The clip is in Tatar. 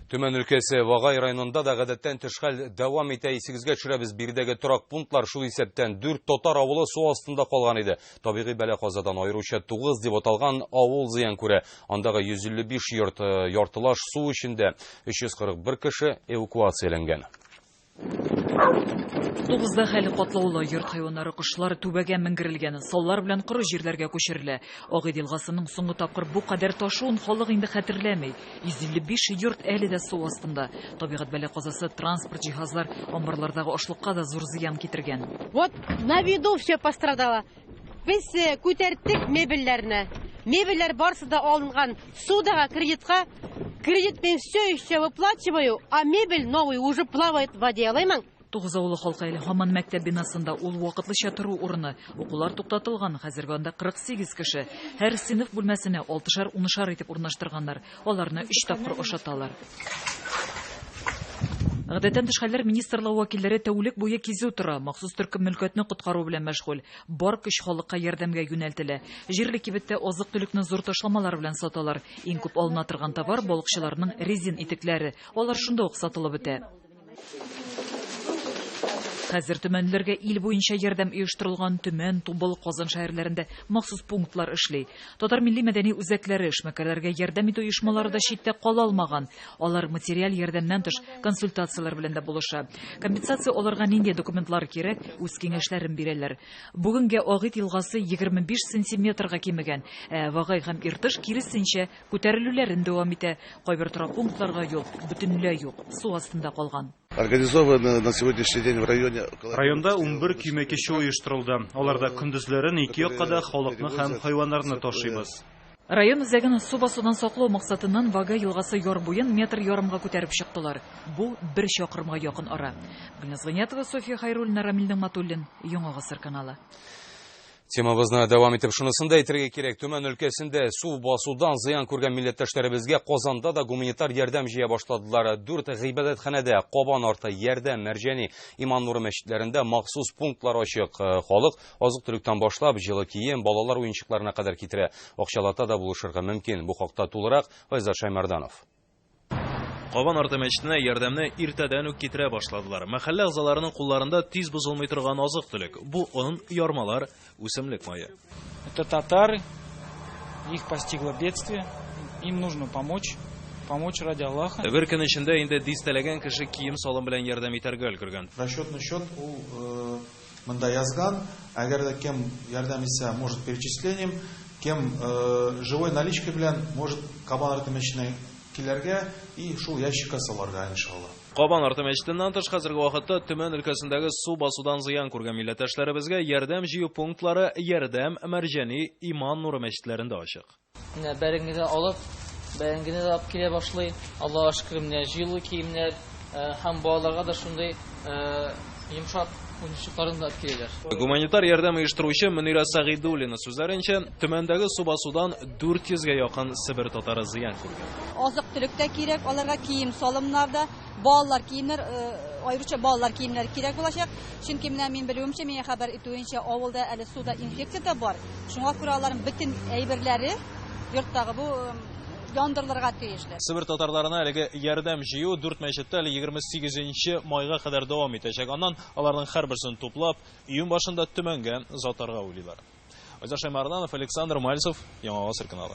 Төмән өлкәсе Вагай районында да гадәттән тыш хәл дәвам итә. Исегезгә төшерәбез, биредәге торак пунктлар шул исәптән дүрт татар авылы су астында калган иде. Табигый бәла-казадан аеруча тугыз дип аталган авыл зыян күрә. Андагы 155 йорт э, яртылаш су эчендә, 341 кеше эвакуацияләнгән. Тугызда хәле катлаулы, йорт хайваннары, кошлар түбәгә менгерелгән, саллар белән коры җирләргә күчерелә. Агыйд елгасының соңгы тапкыр бу кадәр ташуын халык инде хәтерләми. 155 йорт әле дә су астында. Табигать бәла-казасы транспорт, җиһазлар, амбарлардагы ашлыкка да зур зыян китергән. Вот на виду все пострадало. Без күтәрттек мебельләрне. Мебельләр барысы да алынган судага, кредитка. Кредит мин все еще выплачиваю, а мебель новый уже плавает в воде, алаймын. Тугыз авылы халкы әле һаман мәктәп бинасында ул вакытлыча тору урыны. Укулар туктатылган, хәзерге анда 48 кеше. Һәр сыйныф бүлмәсенә алтышар-унышар итеп урнаштырганнар. Аларны өч тапкыр ашаталар. Гадәттән тыш хәлләр министрлыгы вәкилләре тәүлек буе кизү тора, махсус төркем мөлкәтне коткару белән мәшгуль. Бар көч халыкка ярдәмгә юнәлтелә. Җирле кибеттә азык-төлекне зур ташламалар белән саталар. Иң күп алына торган товар, балыкчыларның резин итекләре. Алар шунда ук сатылып бетә. Хәзер төмәнләргә ил буенча ярдәм оештырылган Төмән, Тубыл, Казан шәһәрләрендә махсус пунктлар эшли. Татар милли мәдәни үзәкләре, эшмәкәрләргә ярдәм итү оешмалары да читтә кала алмаган. Алар материаль ярдәмнән тыш консультацияләр белән дә булыша. Компенсация алырга нинди документлар кирәк, үз киңәшләрен бирәләр. Бүгенгә Агыйт елгасы 25 сантиметрга кимегән, ә Вагай һәм Иртыш, киресенчә, Күтәрелүләрен дәвам итә. Кайбер торак пунктларга юл бөтенләй юк, су астында калган. Районда унбер көймә кичү оештырылды. Аларда көндезләрен ике якка да халыкны һәм хайваннарны ташыйбыз. Район үзәген су басудан саклау максатыннан Вага елгасы яр буен метр ярымга күтәреп чыктылар. Бу, бер чакрымга якын ара. Гөлназ Гыйниятова, София Хәйруллина, Рамил Нигъмәтуллин, Яңа гасыр каналы. Темабызны дәвам итеп шунысын да әйтергә кирәк, Төмән өлкәсендә су басудан зыян күргән милләттәшләребезгә Казанда да гуманитар ярдәм җыя башладылар. Дүрт гыйбадәтханәдә Кабан арты, Ярдәм, Мәрҗәни, Иман нуры мәчетләрендә махсус пунктлар ачык. Э, халык азык-төлектән башлап, җылы кием, балалар уенчыкларына кадәр китерә. Акчалата да булышырга мөмкин. Бу хакта тулырак Айзат Шаймарданов. Кабан арты мәчетенә ярдәмне иртәдән үк китерә башладылар. Мәхәллә әгъзаларының кулларында тиз бозылмый торган азык-төлек. Бу он, ярмалар, үсемлек мае. Это татары, их постигло бедствие, им нужно помочь, помочь ради Аллаха. Бер көн эчендә инде дистәләгән кеше кием-салым белән ярдәм итәргә өлгергән. Расчетный счет ул Монда язган, әгәр дә кем ярдәм итсә, может перечислением, кем живой наличка белән, может Кабан арты мәчетенә киләргә и шул ящикка салырга иншалла. Кабан арты мәчетеннән тыш хәзерге вакытта Төмән өлкәсендәге су басудан зыян күргән милләттәшләребезгә ярдәм җыю пунктлары Ярдәм, Мәрҗани, Иман нуры мәчетләрендә ачык. Менә бәрәңгене алып, бәрәңгене дә алып килә башлый. Аллаһуга шөкер, менә җылы киемнәр э, һәм балаларга да шундый э, йомшак уенчыкларын да алып киләләр. Гуманитар ярдәм оештыручы Мөнирә Сәгыйдуллина сүзләренчә, Төмәндәге су басудан 400 гә якын Себер татары зыян күргән. Азык-төлек тә кирәк, аларга кием-салымнар да. Балалар киемнәр, аеруча балалар киемнәр кирәк булачак. Чөнки менә мин белүемчә, миңа хәбәр итүенчә, авылда әле суда инфекция дә бар. Шуңа күрә аларның бөтен әйберләре йорттагы бу яндырылырга тиешле. Себер татарларына әлеге ярдәм җыю дүрт мәчеттә әле 28 майга кадәр дәвам итәчәк. Аннан аларның һәрберсен туплап, июнь башында Төмәнгә озатарга уйлыйлар. Айдар Шаймарданов, Александр Мальцев, Яңа Гасыр каналы.